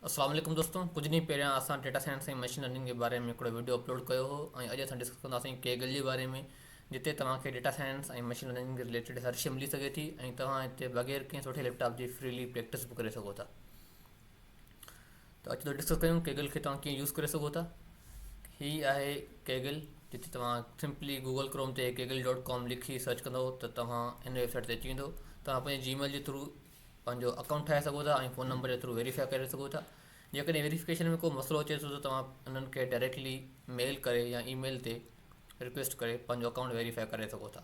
السلام عليڪم دوستو ڪجهه ڏينهن پهريان اسان ڊيٽا سائنس ۽ مشين لرننگ جي باري ۾ هڪڙو وڊيو اپلوڊ ڪيو هو ۽ اڄ اسان ڊسڪس ڪنداسين ڪيگل جي باري ۾ جتي توهان کي ڊيٽا سائنس ۽ مشين لرننگ جي رليٽيڊ هر شي ملي سگهي ٿي ۽ توهان هتي بغير ڪنهن سٺي ليپ ٽاپ جي فريلي پريڪٽس به ڪري سگهو ٿا ته اچو ڊسڪس ڪيون ڪيگل کي توهان ڪيئن يوز ڪري سگهو ٿا هي آهي ڪيگل جتي توهان سمپلي گوگل ڪروم تي ڪيگل ڊاٽ ڪام لکي سرچ ڪندو ته توهان هن ويب سائٽ تي اچي ويندو توهان پنهنجي جي ميل جي ٿرو پنهنجو اڪائونٽ ٺاهي سگهو ٿا ۽ فون نمبر جي ٿرو ويريفائي ڪري سگهو ٿا جيڪڏهن ويريفڪيشن ۾ ڪو مسئلو اچي ٿو ته توهان انهن کي ڊائريڪٽلي ميل ڪري يا اي ميل تي رڪويسٽ ڪري پنهنجو اڪائونٽ ويريفائي ڪري سگهو ٿا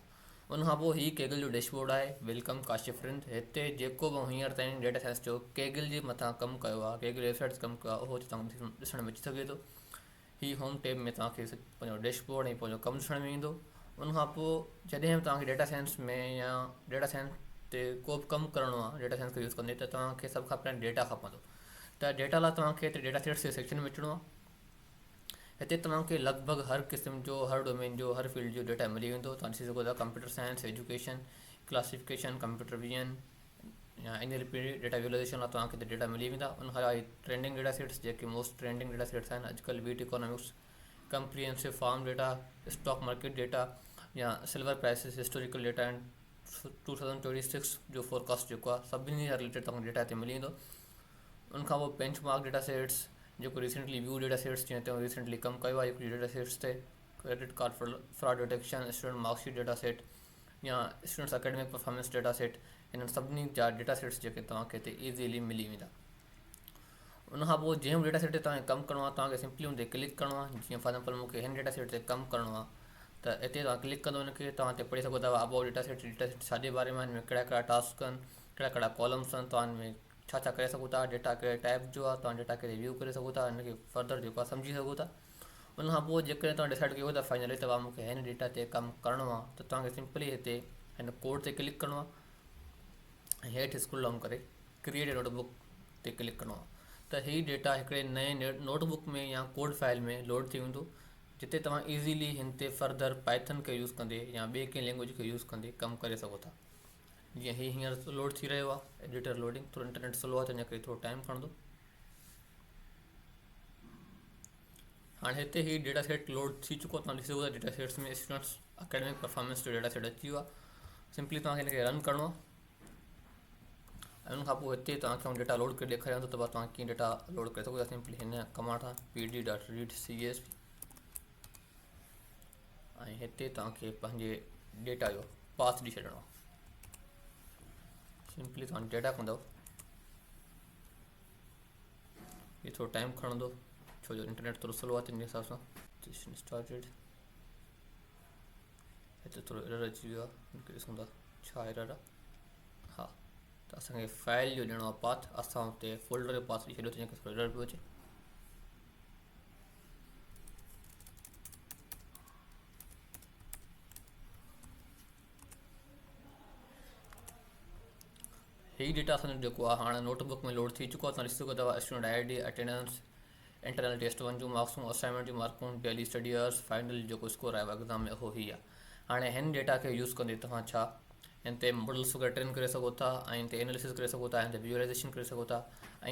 ان کان پوء هي ڪيگل جو ڊيش بورڊ آهي ويلڪم ڪاشف رند هتي جيڪو به هينئر تائين ڊيٽا سائنس جو ڪيگل جي مٿان ڪم ڪيو آهي ڪيگل ويب سائيٽس ڪم ڪيو آهي اهو هتي توهان کي ڏسڻ ۾ اچي سگهي ٿو هي هوم ٽيب ۾ توهان کي پنهنجو ڊيش بورڊ ۽ پنهنجو ڪم ڏسڻ ۾ ايندو ان کان پوء جڏهن به توهان کي ڊيٽا سائنس ۾ يا ڊيٽا سائنس تي ڪو به ڪم ڪرڻو آهي ڊيٽا سائنس کي يوز ڪندي ته توهان کي سڀ کان پهريان ڊيٽا کپندو ته ڊيٽا لاء توهان کي هتي ڊيٽا سيٽس جي سيڪشن ۾ اچڻو آهي هتي توهان کي لڳ ڀڳ هر قسم جو هر ڊومين جو هر فيلڊ جو ڊيٽا ملي ويندو توهان ڏسي سگهو ٿا computer science education classification computer vision يا انيل پي ڊي ڊيٽا ويزولائيزيشن لاء توهان کي هتي ڊيٽا ملي ويندا ان کان علاوه ٽرينڊنگ ڊيٽا سيٽس جيڪي موسٽ ٽرينڊنگ ڊيٽا سيٽس آهن اڄ ڪلهه wheat economics comprehensive farm data stock market data يا silver prices historical data ۽ two thousand twenty six جو فورڪاسٽ جيڪو آهي سڀني سان ريليٽيڊ توهان ڊيٽا هتي ملي ويندو ان کان پوء بينچ مارڪ ڊيٽا سيٽس جيڪو ريسنٽلي ويو ڊيٽا سيٽس جنهن تي ريسنٽلي ڪم ڪيو آهي هڪڙي ڊيٽا سيٽس تي credit card fraud detection student marksheet data set يا students academic performance data set انهن سڀني جا ڊيٽا سيٽس جيڪي توهان کي هتي ايزيلي ملي ويندا ان کان پوء جنهن به ڊيٽا سيٽ تي توهان کي ڪم ڪرڻو آهي توهان کي سمپلي ان تي ڪلڪ ڪرڻو آهي جيئن فار ايگزامپل مون کي هن ڊيٽا سيٽ تي ڪم ڪرڻو آهي ته هتي توهان ڪلڪ ڪندو ان کي توهان هتي پڙهي سگهو ٿا about data set data set ڇا جي باري ۾ هن ۾ ڪهڙا ڪهڙا ٽاسڪ آهن ڪهڙا ڪهڙا ڪالمس آهن توهان هن ۾ ڇا ڇا ڪري سگهو ٿا ڊيٽا ڪهڙي ٽائپ جو آهي توهان ڊيٽا کي ريويو ڪري سگهو ٿا ان کي فردر جيڪو آهي سمجهي سگهو ٿا ان کان پوء جيڪڏهن توهان ڊسائيڊ ڪيو ته فائنلي توهان کي هن ڊيٽا تي ڪم ڪرڻو آهي ته توهان کي سمپلي هتي هن ڪوڊ تي ڪلڪ ڪرڻو آهي ۽ هيٺ اسڪرول ڊائون ڪري ڪريئيٽ نوٽ بڪ تي ڪلڪ ڪرڻو آهي ته هي ڊيٽا هڪڙي نئين نوٽ بڪ ۾ يا ڪوڊ فائل ۾ لوڊ ٿي ويندو جتي توهان ايزيلي هن تي فرڌر پائٿن کي يوز ڪندي يا ٻي ڪنهن لينگويج کي يوز ڪندي ڪم ڪري سگهو ٿا جيئن هي هينئر لوڊ ٿي رهيو آهي ايڊيٽر لوڊنگ ٿورو انٽرنيٽ سلو آهي تنهنجي ڪري ٿورو ٽائيم کڻندو هاڻي هتي هي ڊيٽا سيٽ لوڊ ٿي چڪو توهان ڏسي سگهو ٿا data sets ۾ students academic performance جو ڊيٽا سيٽ اچي ويو آهي سمپلي توهان کي هن کي رن ڪرڻو آهي ۽ ان کان پوء هتي توهان کي آؤں ڊيٽا لوڊ ڪري ڏيکاريان ٿو ته بس توهان ڪيئن ڊيٽا لوڊ ڪري سگهو ٿا سمپلي هن ڪمانڊ سان P D dot read C S V ۽ هتي توهان کي پنهنجي ڊيٽا جو پاٿ ڏئي ڇڏڻو آهي سمپلي توهان ڊيٽا ڪندو هي ٿورو ٽائيم کڻندو ڇو جو انٽرنيٽ ٿورو سلو آهي تنهنجي حساب سان سيشن اسٽارٽيڊ هتي ٿورو ايرر اچي ويو آهي ڏسون ٿا ڇا ايرر آهي ها ته اسان کي فائل جو ڏيڻو آهي پاٿ اسان اتي فولڊر جو پاٿ ڏئي ڇڏيو تنهنجي ڪري ٿورو ايرر پيو اچي هي ڊيٽا سندن جيڪو آ هاڻ نوٽ بڪ ۾ لوڊ ٿي چڪو آ توهان ڏسي سگهو ٿا ته student I D attendance internal test one جون مارڪسون اسائنمينٽ جون مارڪون ڊيلي اسٽڊي آورس فائنل جو جيڪو اسڪور آيو آ ايگزام ۾ اهو هي آ هاڻي هن ڊيٽا کي يوز ڪندي توهان ڇا هن تي ماڊلس وغيره ٽرين ڪري سگهو ٿا ۽ هن تي اناليسز ڪري سگهو ٿا هن تي ويجولايزيشن ڪري سگهو ٿا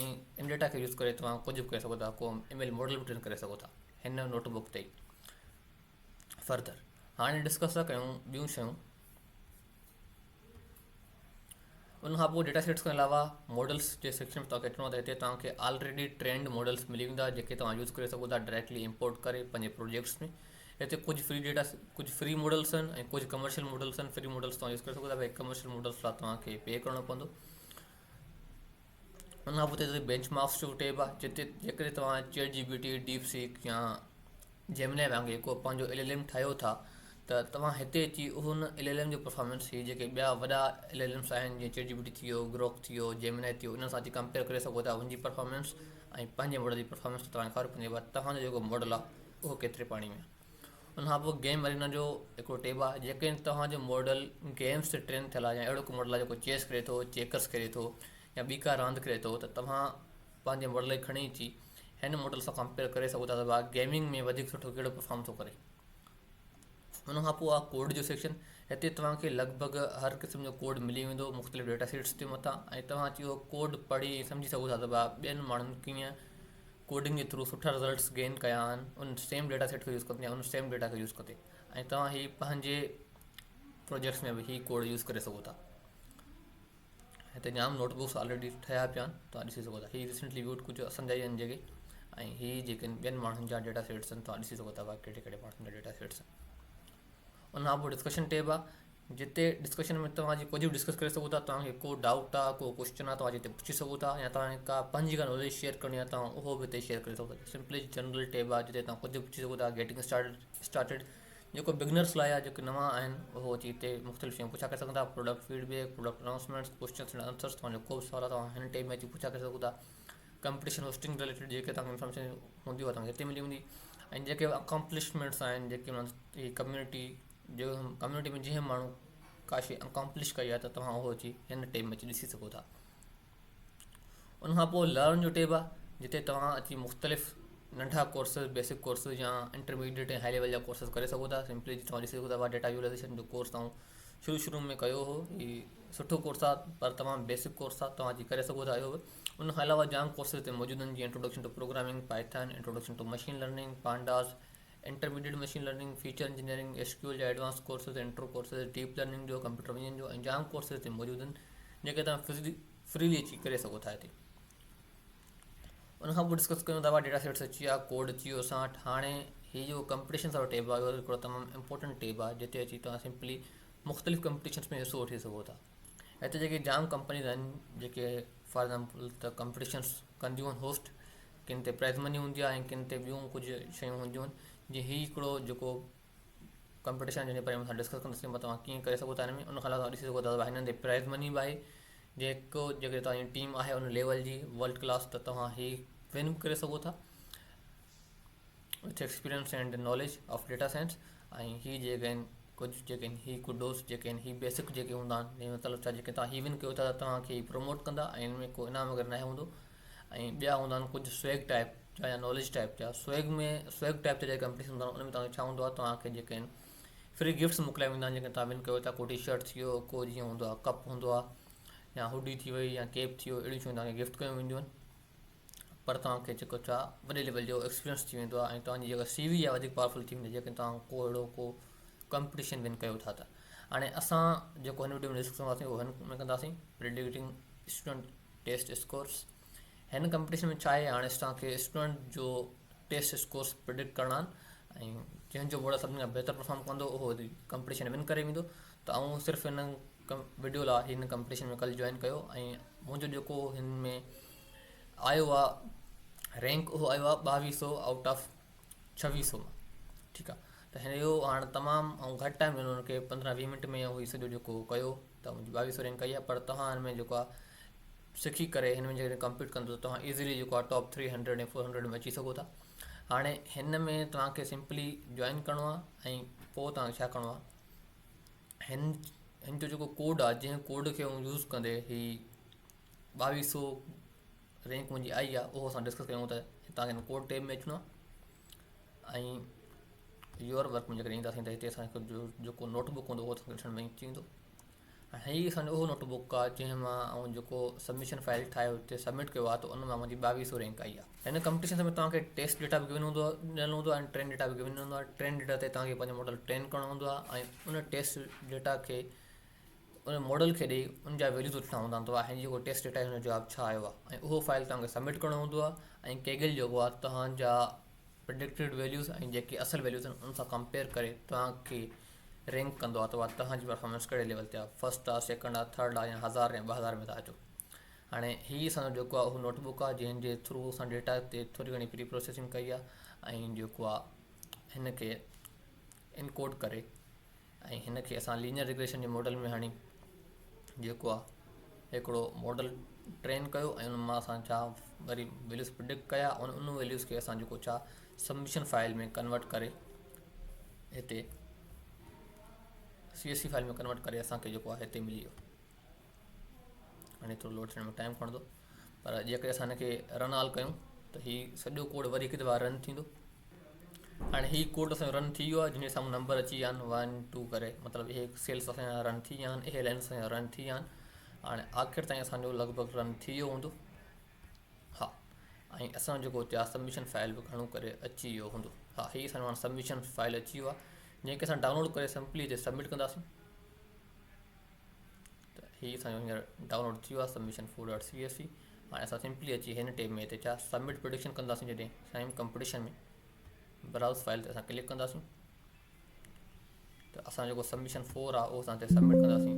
۽ ان ڊيٽا کي يوز ڪري توهان ڪجهه به ڪري سگهو ٿا ڪو ايم ايل ماڊل به ٽرين ڪري سگهو ٿا هن نوٽ بڪ تي فردر هاڻي ڊسڪس ٿا ڪيون ٻيون شيون ان کان پوء ڊيٽا سيٽس کان علاوه ماڊلس جي سيڪشن ۾ توهان کي اچڻو آهي ته هتي توهان کي آلريڊي ٽرينڊ ماڊلس ملي ويندا جيڪي توهان يوز ڪري سگهو ٿا ڊائريڪٽلي امپورٽ ڪري پنهنجي پروجيڪٽس ۾ هتي ڪجهه فري ڊيٽا ڪجهه فري ماڊلس آهن ۽ ڪجهه ڪمرشل ماڊلس آهن فري ماڊلس توهان يوز ڪري سگهو ٿا باقي ڪمرشل ماڊلس لاء توهان کي پي ڪرڻو پوندو ان کان پوء اتي بينچ مارڪس جو ٽيب آهي جتي جيڪڏهن توهان chat G P T DeepSeek يا جيمنائي وانگي ڪو پنهنجو ايل ايل ايم ٺاهيو ٿا ته توهان هتي اچي ان ايل ايل ايم جو پرفارمنس هي جيڪي ٻيا وڏا ايل ايل ايمس آهن جيئن چيٽ جي پي ٽي ٿي ويو گروڪ ٿي ويو جيمنائي ٿي ويو انهن سان اچي ڪمپيئر ڪري سگهو ٿا ان جي پرفارمنس ۽ پنهنجي ماڊل جي پرفارمنس تي توهان کي خبر پوندي ڀلا توهان جو جيڪو ماڊل آهي اهو ڪيتري پاڻي ۾ آهي ان کان پوء گيم ارينا جو هڪڙو ٽيب آهي جيڪڏهن توهان جو ماڊل گيمز تي ٽرين ٿيل آهي يا اهڙو ڪو ماڊل آهي جيڪو چيس کيڏي ٿو چيڪرز کيڏي ٿو يا ٻي ڪا راند کيڏي ٿو ته توهان پنهنجي ماڊل کي کڻي اچي هن ماڊل سان ڪمپيئر ڪري سگهو ٿا ته واهه گيمنگ ۾ وڌيڪ سٺو ڪهڙو پرفارم ٿو ڪري ان کان پوء آهي ڪوڊ جو سيڪشن هتي توهان کي لڳ ڀڳ هر قسم جو ڪوڊ ملي ويندو مختلف ڊيٽا سيٽس جي مٿان ۽ توهان اچي اهو ڪوڊ پڙهي ۽ سمجهي سگهو ٿا ته واهه ٻين ماڻهن ڪيئن ڪوڊنگ جي ٿرو سٺا رزلٽس گين ڪيا آھن ان سيم ڊيٽا سيٽ کي يوز ڪندي يا ان سيم ڊيٽا کي يوز ڪندي ۽ توھان ھي پنھنجي پروجيڪٽس ۾ به ھي ڪوڊ يوز ڪري سگھو ٿا ھتي جام نوٽ بڪس آلريڊي ٺھيا پيا آھن توھان ڏسي سگھو ٿا ھي ريسنٽلي ويوڊ ڪجهه اسان جا ئي آھن جيڪي ۽ ھي جيڪي ٻين ماڻھن جا ڊيٽا سيٽس آھن توھان ڏسي سگھو ٿا ڪھڙي ڪھڙي ماڻھن جا ڊيٽا سيٽس آھن ان کان پوء ڊسڪشن ٽيب آھي جتي ڊسڪشن ۾ توهان جي ڪجهه به ڊسڪس ڪري سگهو ٿا توهان کي ڪو ڊائوٽ آهي ڪو ڪوشچن آهي توهان جتي پڇي سگهو ٿا يا توهان کي ڪا پنهنجي ڪا ناليج شيئر ڪرڻي آهي توهان اهو به اتي شيئر ڪري سگهو ٿا سمپلي جنرل ٽيب آهي جتي توهان ڪجهه به پڇي سگهو ٿا گيٽنگ اسٽارٽ اسٽارٽيڊ جيڪو بگنرس لاء آهي جيڪي نوان آهن اهو اچي اتي مختلف شيون پڇا ڪري سگهن ٿا product feedback product announcements questions and answers توهان جو ڪو به سوال آهي توهان هن ٽيب ۾ اچي پڇا ڪري سگهو ٿا ڪمپٽيشن هوسٽنگ ريليٽيڊ جيڪي توهان کي انفارميشن هوندي اها توهان کي هتي ملي ويندي ۽ جيڪي اڪامپلشمينٽس آهن جيڪي ڪميونٽي جو ڪميونٽي ۾ جنهن ماڻهو ڪا شيء اڪامپلش ڪئي آهي ته توهان اهو اچي هن ٽيب ۾ اچي ڏسي سگهو ٿا ان کان پوء لرن جو ٽيب آهي جتي توهان اچي مختلف ننڍا ڪورسز بيسڪ ڪورسز يا انٽرميڊيٽ ۽ هاء ليول جا ڪورسز ڪري سگهو ٿا سمپلي توهان ڏسي سگهو ٿا ڊيٽا ويزولائزيشن جو ڪورس تائون شروع شروع ۾ ڪيو هو هي سٺو ڪورس آهي پر تمام بيسڪ ڪورس آهي توهان اچي ڪري سگهو ٿا اهو به ان کان علاوه جام ڪورسز هتي موجود آهن جيئن introduction to programming Python introduction to machine learning pandas intermediate machine learning, feature engineering, S Q L جا advance courses, intro courses, deep learning جو، ڪمپيوٽر ويزن جو ۽ جام ڪورسز هتي موجود آهن جيڪي توهان فري فريلي اچي ڪري سگهو ٿا هتي ان کان پوء ڊسڪس ڪيون ٿا ڊيٽا سيٽس اچي ويا ڪوڊ اچي ويو اسان وٽ هاڻي هي جو ڪمپٽيشنس وارو ٽيب آيو هڪڙو تمام امپورٽنٽ ٽيب آهي جتي اچي توهان سمپلي مختلف ڪمپٽيشنس ۾ حصو وٺي سگهو ٿا هتي جيڪي جام ڪمپنيز آهن جيڪي فار ايگزامپل ته ڪمپٽيشنس ڪنديون آهن هوسٽ ڪن تي پرائز مني هوندي آهي ۽ ڪن تي ٻيون ڪجهه شيون هونديون آهن جيئن هي هڪڙو جيڪو ڪمپٽيشن جنهن جي باري ۾ اسان ڊسڪس ڪنداسين مطلب اوهان ڪيئن ڪري سگهو ٿا هن ۾ ان کان علاوه ڏسي سگهو ٿا ته هنن تي پرائز مني به آهي جيڪو جيڪڏهن توهان جي ٽيم آهي ان ليول جي ورلڊ ڪلاس ته توهان هي ون به ڪري سگهو ٿا with experience and knowledge of data science ۽ هي جيڪي آهن ڪجهه جيڪي آهن هي ڪڊوس جيڪي آهن هي بيسڪ جيڪي هوندا آهن جنهن جو مطلب ڇا جيڪي توهان هي ون ڪيو ٿا ته توهان کي هي پروموٽ ڪندا ۽ ان ۾ ڪو انعام وغيره ناهي هوندو ۽ ٻيا هوندا آهن ڪجهه سوئگ ٽائپ جا يا ناليج ٽائپ جا سوئگ ۾ سوئگ ٽائپ جا جيڪي ڪمپنيز هوندا آهن ان ۾ توهان کي ڇا هوندو آهي توهان کي جيڪي آهن فري گفٽس موڪليا ويندا آهن جيڪي توهان ون ڪيو ٿا ڪو ٽي شرٽ ٿي ويو ڪو جيئن هوندو آهي ڪپ هوندو آهي يا هوڊي ٿي وئي يا ڪيپ ٿي ويو اهڙيون شيون توهان کي گفٽ ڪيون وينديون آهن پر توهان کي جيڪو چاء وڏي ليول جو ايڪسپيرينس ٿي ويندو ۽ توهان جي جيڪا سي وي آهي وڌيڪ پاورفل ٿي ويندي جيڪڏهن توهان ڪو اهڙو ڪو ڪمپٽيشن ون ڪيو ٿا ته هاڻي اسان جيڪو هن وڊيو ۾ ڊسڪس ڪنداسين اهو هن ۾ ڪنداسين پريڊڪٽنگ اسٽوڊنٽ ٽيسٽ اسڪورس هن ڪمپٽيشن ۾ ڇا آهي هاڻي اسان کي اسٽوڊنٽ جو ٽيسٽ اسڪورس پريڊڪٽ ڪرڻا آهن ۽ جنهن جو بورڊ سڀني کان بهتر پرفارم ڪندو اهو ڪمپٽيشن ون ڪري ويندو ته آئون صرف هن وڊيو لا هن ڪمپٽيشن ۾ ڪل جوائن ڪيو ۽ منهنجو جيڪو هن ۾ آيو آ رينڪ اهو آيو آ ٻاويهه سو آئوٽ آف ڇويهه سو مان ٺيڪ آ ته هن اهو هاڻ تمام آئون گهٽ ٽائيم ڏنو هن کي پندرهن ويهه منٽ ۾ اهو سڄو جيڪو ڪيو ته منهنجي ٻاويهه سو رينڪ آئي آ پر توهان هن ۾ جيڪو آ سکي ڪري هن ۾ جڏهن ڪمپيٽ ڪندو ته توهان ايزلي جيڪو آ top three hundred ۽ four hundred ۾ اچي سگهو ٿا هاڻي هن ۾ توهان کي سمپلي جوائن ڪرڻو آ ۽ پوء توهان کي ڇا ڪرڻو آ هن هن جو جيڪو ڪوڊ آهي جنهن ڪوڊ کي آئون يوز ڪندي هي ٻاويهه سو رينڪ منهنجي آئي آهي اهو اسان ڊسڪس ڪيون ته هتان کي ڪوڊ ٽيب ۾ اچڻو آهي ۽ يور ورڪ ۾ جيڪڏهن اينداسين ته هتي اسانکي جو جيڪو نوٽ بڪ هوندو اهو اسانکي ڏسڻ ۾ اچي ويندو هاڻي هي اسانجو اهو نوٽ بڪ آهي جنهن مان آئون جيڪو سبمشن فائل ٺاهي هتي سبمٽ ڪيو آهي ته ان مان منهنجي ٻاويهه سو رينڪ آئي آهي هن ڪمپٽيشنس ۾ توهان کي ٽيسٽ ڊيٽا به گيون هوندو آهي ڏنل هوندو آهي ۽ ٽرين ڊيٽا به گيون هوندو آهي ٽرين ڊيٽا تي توهان کي پنهنجو ماڊل ٽرين ڪرڻو هوندو آهي ۽ ان ٽيسٽ ڊيٽا کي ان ماڊل کي ڏيئي ان جا ويليوز وٺڻا هوندا آهن توهان جيڪو ٽيسٽ ڊيٽا آهي ان جو جواب ڇا آيو آهي ۽ اهو فائل توهان کي سبمٽ ڪرڻو هوندو آهي ۽ ڪيگل جيڪو آهي توهان جا پرڊڪٽيڊ ويليوز ۽ جيڪي اصل ويليوز آهن ان سان ڪمپيئر ڪري توهان کي رينڪ ڪندو آهي توهان جي پرفارمنس ڪهڙي ليول تي آهي فرسٽ آهي سيڪنڊ آهي ٿرڊ آهي يا هزار يا ٻه هزار ۾ ٿا اچو هاڻي هي اسان جو جيڪو آهي اهو نوٽ بڪ آهي جنهن جي ٿرو اسان ڊيٽا تي ٿوري گهڻي پري پروسيسنگ ڪئي آهي ۽ جيڪو آهي هن کي انڪوڊ ڪري ۽ هن کي اسان لينئر ريگريشن جي ماڊل ۾ هاڻي جيڪو آهي هڪڙو ماڊل ٽرين ڪيو ۽ ان مان اسان ڇا وري ويليوز پرڊڪٽ ڪيا ۽ ان ويليوز کي اسان جيڪو ڇا سبمشن فائل ۾ ڪنورٽ ڪري هتي C S V file ۾ convert ڪري اسان کي جيڪو آهي هتي ملي ويو هاڻي ٿورو لوڊ ٿيڻ ۾ ٽائم کڻندو پر جيڪڏهن اسان هن کي رن آل ڪيون ته هي سڄو ڪوڊ وري هڪ دفعا رن ٿيندو هاڻي هي ڪوڊ اسان رن ٿي ويو آهي جن جي سامهون نمبر اچي ويا آهن ون ٽو ڪري مطلب اهي سيلس اسان جا رن ٿي ويا آهن اهي لائنس اسان جا رن ٿي ويا آهن هاڻي آخر تائين اسان جو لڳ ڀڳ رن ٿي ويو هوندو ها ۽ اسان جو هتي آهي سبمشن فائل به گهڻو ڪري اچي ويو هوندو ها هي اسان جو سبمشن فائل اچي ويو آهي جنهن کي اسان ڊائونلوڊ ڪري سمپلي هتي سبمٽ ڪنداسون هي اسان جو هينئر ڊائونلوڊ ٿي ويو آهي submission four dot C S V هاڻي اسان سمپلي اچي هن ٽيب ۾ هتي ڇا سبمٽ پرڊڪشن ڪنداسين جڏهن سائن ڪمپٽيشن ۾ براوز فائل تي اسان ڪلڪ ڪنداسين ته اسان جيڪو سبمشن فور آهي اهو اسان هتي سبمٽ ڪنداسين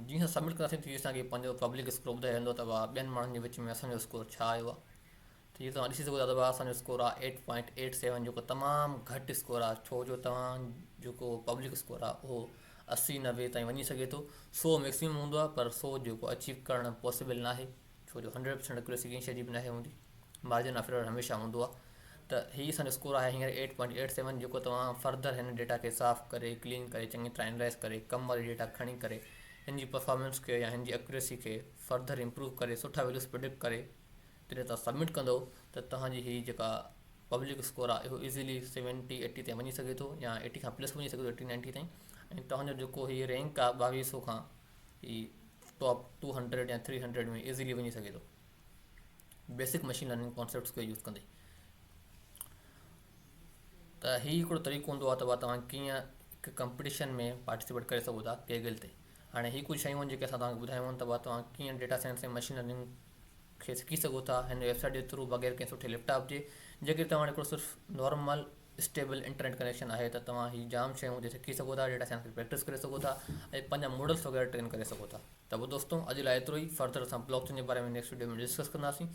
جيئن اسان سبمٽ ڪنداسين تيئن اسانکي پنهنجو پبلڪ اسڪور ٻڌائي رهندو ته ٻين ماڻهن جي وچ ۾ اسانجو اسڪور ڇا آيو آهي ته جيئن توهان ڏسي سگهو ٿا ته اسان جو اسڪور آهي ايٽ پوائنٽ ايٽ سيون جيڪو تمام گهٽ اسڪور آهي ڇو جو توهان جيڪو پبلڪ اسڪور آهي اهو اسي نوي تائين وڃي سگهي ٿو سو ميڪسمم هوندو آهي پر سو جيڪو اچيو ڪرڻ پاسبل ناهي ڇو جو هنڊريڊ پرسينٽ اڪيوريسي ڪنهن شي جي به ناهي هوندي مارجن آف ايرر هميشه هوندو آهي ته هي اسان جو اسڪور آهي هينئر ايٽ پوائنٽ ايٽ سيون جيڪو توهان فرڌر هن ڊيٽا کي صاف ڪري ڪلين ڪري چڱي طرح اينالائز ڪري ڪم واري ڊيٽا کڻي ڪري هن جي پرفارمنس کي يا هن جي اڪيوريسي کي فرڌر امپروو ڪري سٺا ويليوز پرڊڪٽ ڪري جڏهن توهان سبمٽ ڪندو ته توهان جي هي جيڪا پبلڪ اسڪور آهي اهو ايزلي سيونٽي ايٽي تائين وڃي سگهي ٿو يا ايٽي کان پلس وڃي سگهي ٿو ايٽي نائنٽي تائين ۽ توهان جو جيڪو هي رينڪ آهي ٻاويهه سو کان هي ٽاپ ٽو هنڊريڊ يا ٿري هنڊريڊ ۾ ايزلي وڃي سگهي ٿو بيسڪ مشين لرننگ ڪانسيپٽس کي يوز ڪندي ته هي هڪڙو طريقو هوندو آهي ته بابا توهان ڪيئن هڪ ڪمپٽيشن ۾ پارٽيسپيٽ ڪري سگهو ٿا ڪيگل تي هاڻي هي ڪجهه شيون آهن جيڪي اسان توهان کي ٻڌايون آهن ته بابا توهان ڪيئن ڊيٽا سائنس ۽ مشين لرننگ کي سکي سگهو ٿا هن ويب سائيٽ جي ٿرو بغير ڪنهن سٺي ليپ ٽاپ جي جيڪڏهن توهان وٽ هڪڙو صرف نارمل اسٽيبل انٽرنيٽ ڪنيڪشن آهي ته توهان هي جام شيون هتي سکي سگهو ٿا ڊيٽا سائنس کي پريڪٽس ڪري سگهو ٿا ۽ پنهنجا ماڊلز وغيره ٽرين ڪري سگهو ٿا ته پوء دوستو اڄ لاء ايترو ئي فردر اسان بلاڪ چين جي باري ۾ نيڪسٽ وڊيو ۾ ڊسڪس ڪنداسين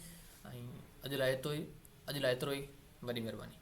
۽ اڄ لاء ايترو ئي اڄ لاء ايترو ئي وڏي مهرباني